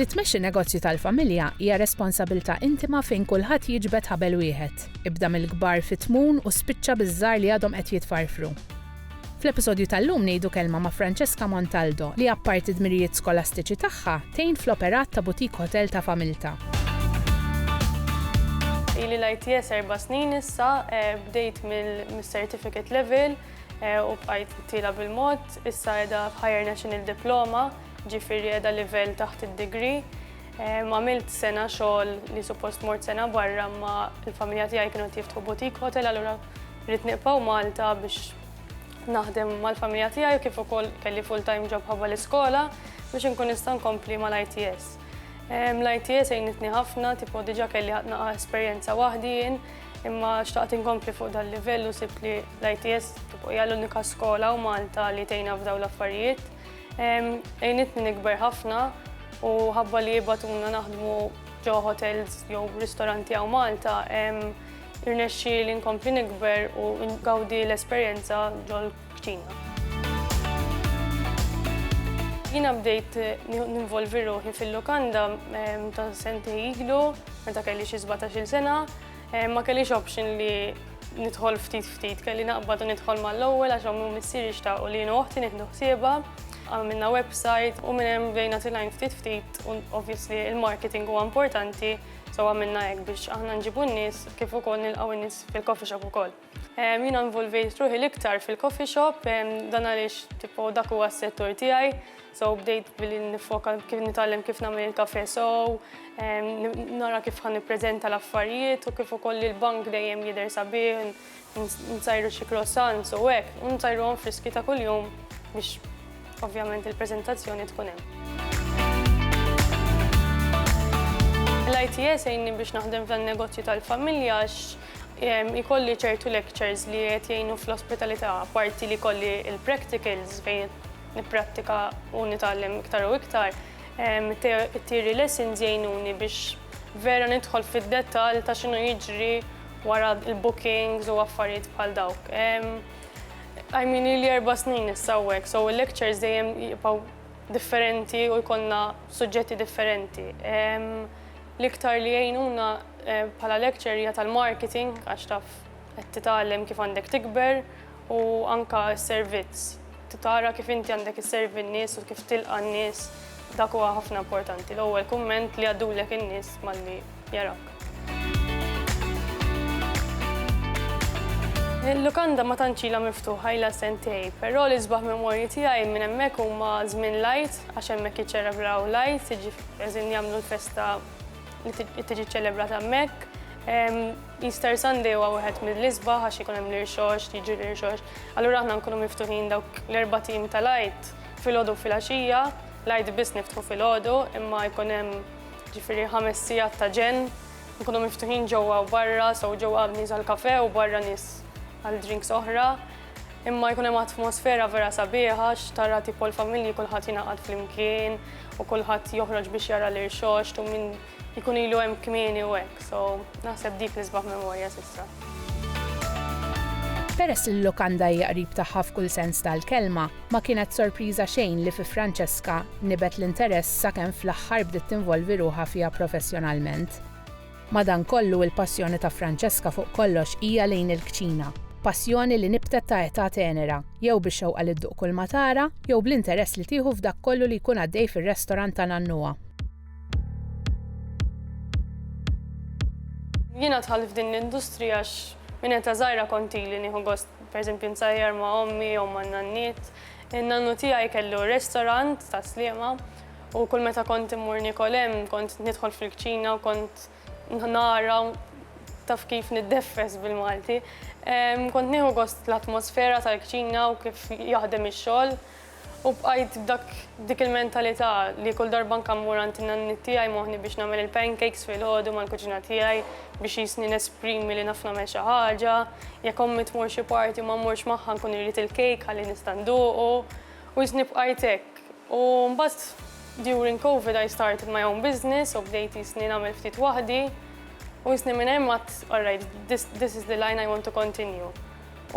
Li tmexxi negozju tal-familja hija responsabilità intima fejn kulħadd jiġbed ħabel wieħed. Ibda mill-kbar fit-tmun u spiċċa biż-żgħar li għadhom qed jitfarfru. Fl-episodju tal-lum ngħidu kelma ma' Francesca Montaldo li apparti d-dmirijiet skolastiċi tagħha, tgħin fl-operat ta' boutique hotel ta' familtha. Ili l-ITS erba' snin issa, bdejt mill-certificate level u bqajt tiela' bil-mod, issa qiegħda f'Higher National Diploma, ġifieri qiegħda livell taħt id-degree. Għamilt sena xogħol li suppost mort sena barra imma l-familja tiegħi kienu qed jiftħu boutique hotel allura Rrid nibqgħu Malta biex naħdem mal-familja tiegħi kif ukoll kelli full-time job ħabba l-iskola biex inkun nista' nkompli mal-ITS. Ehm, L-ITS għinitni ħafna, tipo diġa kelli ħatna esperjenza waħdi jien, imma xtaqt inkompli fuq dal-livell u sibt li l-ITS tipo hija l-unika skola u Malta li tejna f'daw l-affarijiet. Ehm, għinitni nikber ħafna u ħabba li jibatuna naħdmu ġo hotels jew ristoranti għaw Malta, ehm, Irnexxieli nkompli nikber u ngawdi l-esperjenza ġol-kċina. Jiena bdejt ninvolvi ruħi fil-lukanda ta' sentej ilu, meta kelli xi sbatax-il sena. Ma kellix option li nidħol ftit ftit, kelli naqbad u nidħol mal-ewwel għax ommi u missieri xtaqu li jien u oħti nieħdu ħsiebha. Għamilna website u minn hemm bdejna tilgħin ftit ftit u obviously l-marketing huwa importanti. So għamilna hekk biex aħna nġibu n-nies kif ukoll nilqgħu n-nies fil-coffee shop ukoll. Jiena nvolvejt ruħi l-iktar fil-coffee shop, dan għaliex tipo dak huwa s-settur tiegħi, so bdejt billi nifoka kif nitgħallem kif nagħmel il-kafe sow, nara kif ħan nippreżenta l-affarijiet u kif ukoll il-bank dejjem jidher sabiħ. Nsajru xi croissants u hekk, u nsajruhom friski ta' kuljum biex ovvjament il-preżentazzjoni tkun hemm. L-ITS għinni biex naħdem f'dan negozju tal-familja għax ikolli ċertu lectures li qed jgħinu fl-ospitalità, apparti li kolli il-practicals fejn nipprattika u nitgħallem iktar u iktar. It-theory lessons jgħinuni biex vera nidħol fid-dettall ta' x'inhu jiġri wara l-bookings u affarijiet bħal dawk. I mean ili erba' snin issa hawnhekk, so il-lectures dejjem jibqgħu differenti u jkollna suġġetti differenti. L-iktar li jgħinuna bħala lecturer hija tal-marketing għax taf qed titgħallem kif għandek tikber u anke s-servizz, tara kif inti għandek isservi n-nies u kif tilqa' n-nies, dak huwa ħafna importanti, l-ewwel kumment li jgħaddulek in-nies malli jarawk. Il-lukanda ma tantx ilha miftuħa, ilha sentejn, però l-isbaħ memorji tiegħi minn hemmhekk huma żmien l-Għid għax hemmhekk jiċċelebraw l-Għid, jiġifieri jagħmlu l-festa li tiġi ċċelebrata hemmhekk, Easter Sunday huwa wieħed mill-isbaħ għax ikun hemm l-irxoxt, jiġri l-irxoxt. Allura aħna nkunu miftuħin dawk l-erba' tim tal-Għid filgħodu u filgħaxija. L-Għid biss niftħu filgħodu imma jkun hemm ġifieri ħames sigħat ta' ġenn. Nkunu miftuħin ġewwa u barra, so ġewwa hemm nies għall-kafè u barra nies għal drinks oħra. Imma jkun hemm atmosfera vera sabiħa għax tara tipo l-familji kulħadd jingħaqad flimkien u kulħadd joħroġ biex jara l-irxoxt u min Ikun ilu hemm kmieni u hekk, so naħseb dik li sbaħ memorja s'issa. Peress li l-lukanda hija qrib tagħha f'kull sens tal-kelma, ma kienet sorpriża xejn li fi Francesca nibet l-interess sakemm fl-aħħar bdiet tinvolvi ruħha fiha professjonalment. Madankollu il-passjoni ta' Francesca fuq kollox hija lejn il-kċina, passjoni li nibtet ta' età tenera, jew bix-xewqa li dduq kulma tara, jew bl-interess li tieħu f'dak kollu li jkun għaddej fir-restorant ta' nannuha. Jiena dħalt f'din l-industrija għax minn eta żgħira konti li nieħu gost pereżempju nsajjar ma' ommi jew ma' nanniet. In-nannu tiegħi kellu restaurant ta' sliema u kull meta kont immur nikol hemm kont nidħol fil-kċina u kont nara taf kif niddeffes bil-Malti. Kont nieħu gost l-atmosfera tal-kċina u kif jaħdem ix-xogħol. U bqajt b'dak b'dik il-mentalità li kull darba anke mmur għand in-nanniet tiegħi moħħni biex nagħmel il-pancakes filgħodu mal-kuġina tiegħi biex jisni nesprimi li naf nagħmel xi ħaġa. Jekk ommi tmur xi party u ma mmurx magħha nkun irrid il-cake ħalli nista' nduqu. U jisni bqajt hekk. U mbagħad during Covid I started my own business u bdejt jisni nagħmel ftit waħdi. U jisni minn hemm għadt alright this is the line I want to continue.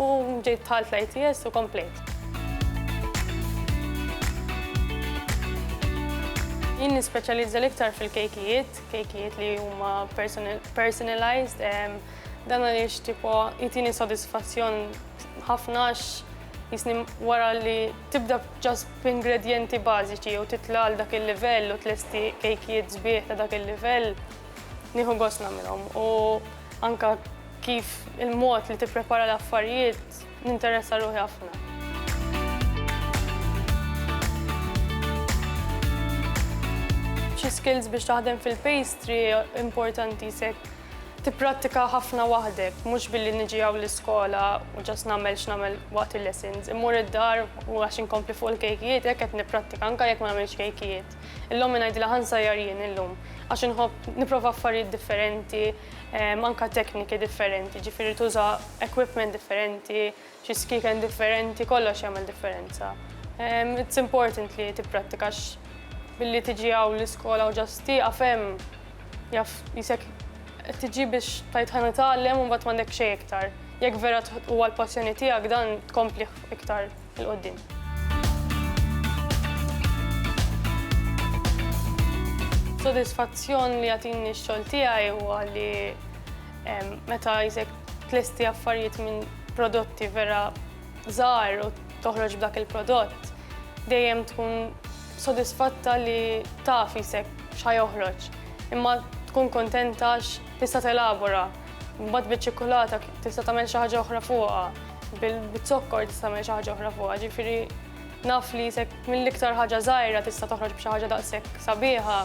U ġejt dħalt l-ITS u komplejt. Jien nispeċjalizza l-iktar fil-kejkijiet, kejkijiet li huma personalized, dan għaliex tipo jitini sodisfazzjon ħafna jisni wara li tibda ġas b'ingredjenti bażiċi u titla għal dak il-livell u tlesti kejkijiet sbieħ ta' dak il-livell, nieħu gost nagħmilhom. U anka Kif il-mod li tipprepara l-affarijiet ninteressa ruħi ħafna. Xi skills biex taħdem fil-pastry importanti sekk tipprattika ħafna waħdek, mhux billi niġi għaw l-iskola u ġas nagħmel x'nagħmel waqt il-lessons. Immur id-dar u għax inkompli fuq il-kejkijiet, hekk qed nipprattika anke jekk ma nagħmilx kejkijiet. Illum ngħidilha ħansajjar jien illum għax inħobb nipprova affarijiet differenti, anke tekniki differenti, ġifieri tuża equipment differenti, xi skieken differenti, kollox jagħmel differenza. It's important li tipprattika billi tiġi hawn l-iskola u ġast tieqaf hemm jaf jisek tiġi biex tajt ħa nitgħallem u mbagħad m'għandek xejn iktar. Jekk vera huwa l-passjoni tiegħek dan tkompli iktar. 'il quddiem. Sodisfazzjon li jagħtini x-xogħol tiegħi huwa li meta jisek tlesti affarijiet minn prodotti vera żgħar u toħroġ b'dak il-prodott, dejjem tkun sodisfatta li taf jisek x'ħa joħroġ. Imma tkun kontenta għax tista' telabora, mbagħad biċ-ċikkulata tista' tagħmel xi ħaġa oħra fuqha. Bil-zokkor tista' tagħmel xi ħaġa oħra fuqha, ġifieri naf li se mill-iktar ħaġa żgħira tista' toħroġ b'xi ħaġa daqshekk sabiħa,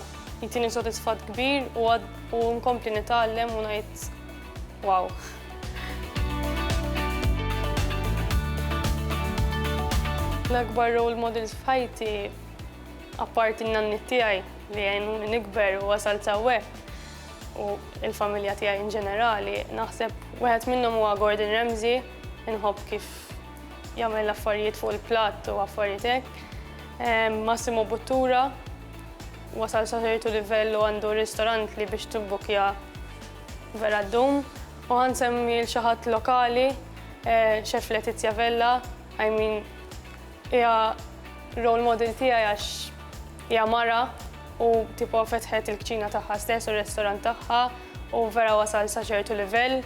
jtini sodisfatt kbir u nkompli nitgħallem u ngħid wow. L-akbar role models f'ħajti, apparti n-nanniet tiegħi li għenuni nikber u wasalt hawnhekk, u l-familja tiegħi in ġenerali, naħseb wieħed minnhom huwa Gordon Ramsay, inħobb kif jagħmel l-affarijiet fuq il-platt u affarijiet hekk. Ehm, Massimo Buttura wasal sa ċertu livell u għandu ristorant li biex tibbukja vera d-dum. U għansemmi l-xaħat lokali, xef eh, Letizia Vella, I mean, hija role model tiegħi għax hija mara u tipo fetħet il-kċina tagħha stess u r-restorant tagħha u vera wasal sa ċertu livell.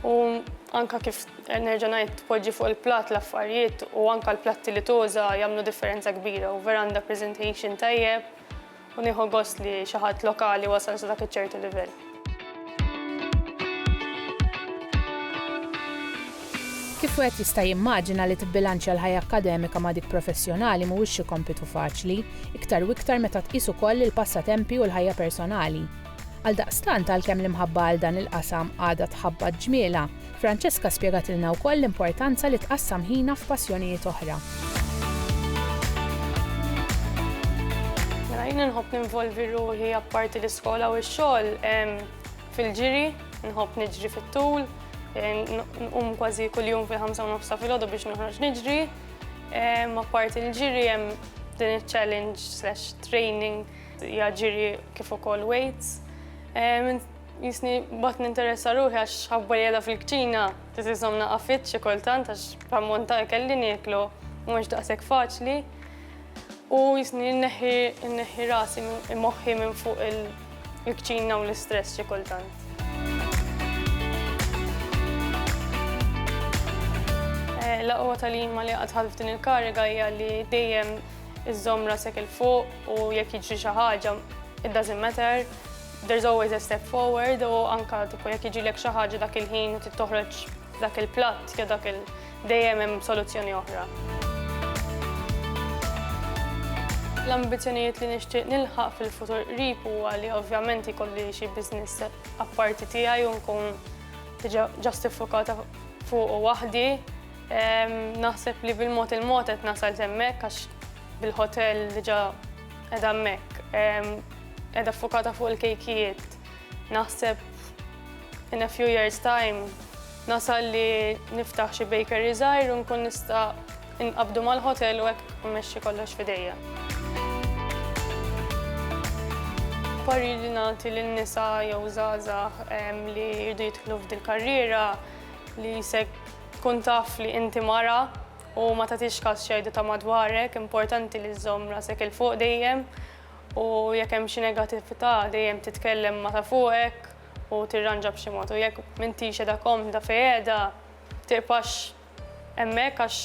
U anka kif nerġa' ngħid tpoġġi fuq il-platt l-affarijiet u anka l-platti li tuża jagħmlu differenza kbira u vera għandha presentation tajjeb u nieħu gost li xi ħadd lokali wasal sa dak iċ-ċertu livell. Kif wieħed jista' jimmaġina li tibbilanċja l-ħajja akkademika ma' dik professjonali mhuwiex xi kompitu faċli, iktar u iktar meta tqis ukoll il-passatempi u l-ħajja personali. Għaldaqstant għalkemm l-imħabba għal dan il-qasam għadha tħabbat ġmielha, Francesca spjegatilna wkoll l-importanza li tqassam ħinha f'passjonijiet oħra. Mela jien inħobb ninvolvi ruħi apparti l-iskola u x-xogħol fil-ġiri, nħobb niġri fit-tul, nqum kważi kuljum fil-ħamsa u nofsa fil-ħodu biex noħroġ niġri. Apparti l-ġiri hemm din il-challenge slash training hija ġiri kif ukoll weights. Jisni bat ninteressa ruħi għax ħabba jeda fil-kċina, titizom naqa fit xi kultant għax pammonta kelli nieklu, mhux daqshekk faċli. U jisni nneħħi rasi moħħi minn fuq il-kċina u l-istress xi kultant. Eh, Laqwa tal-jimma li għadħal f'din il-kariga hija li dejjem iżżomm rasek il-fuq u jekk jiġri xi ħaġa, it doesn't matter, There's always a step forward u anka tipu jekk jiġilek xi ħaġa dak il-ħin u tittoħroġ dak il-platt jew dak il dejjem hemm soluzzjoni oħra. L-ambizzjonijiet li nixtieq nilħaq fil-futur qrib huwa li ovvjament ikolli xi business apparti tiegħi u nkun diġà ġustifukata fuq waħdi. Naħseb li bil-mod il-mod qed nasal hemmhekk għax bil-ħotel diġà qiegħda hemmhekk, qiegħda ffukata fuq il-kejkijiet. Naħseb in a few years time nasal li niftaħ xi bakery żgħir u nkun nista' inqabdu mal-ħotel u hekk mmexxi kollox f'idejja. Pari li nagħti lin nisa jew żgħażagħ li jridu jidħlu f'dil karriera li jisek tkun taf li inti mara U ma tagħtix każ x'jgħidu ta' madwarek, importanti li żżomm rasek 'il fuq dejjem u jekk hemm xi negattività dejjem titkellem ma' ta' fuqek u tirranġa b'xi mod u jekk m'intix qiegħda komda fejn qiegħda tibqax hemmhekk għax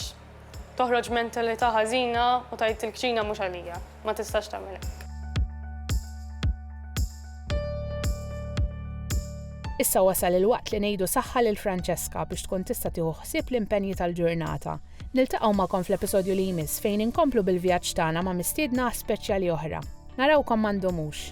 toħroġ mentalità ħażina u tgħid il-kċina mhux għalija. ma tistax tagħmel hekk. Issa wasal il-waqt li ngħidu saħħa lil Francesca biex tkun tista' tieħu ħsieb l-impenji tal-ġurnata. Niltaqgħu magħkom fl-episodju li jmiss fejn inkomplu bil-vjaġġ tagħna ma' mistiedna speċjali oħra. Narawkom ma ndumux.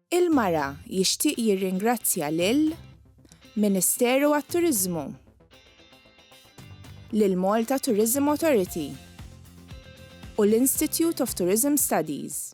Il-Mara jixtieq jirringrazzja lil Ministeru għat-Turiżmu, lill-Malta Tourism Authority u l-Institute of Tourism Studies.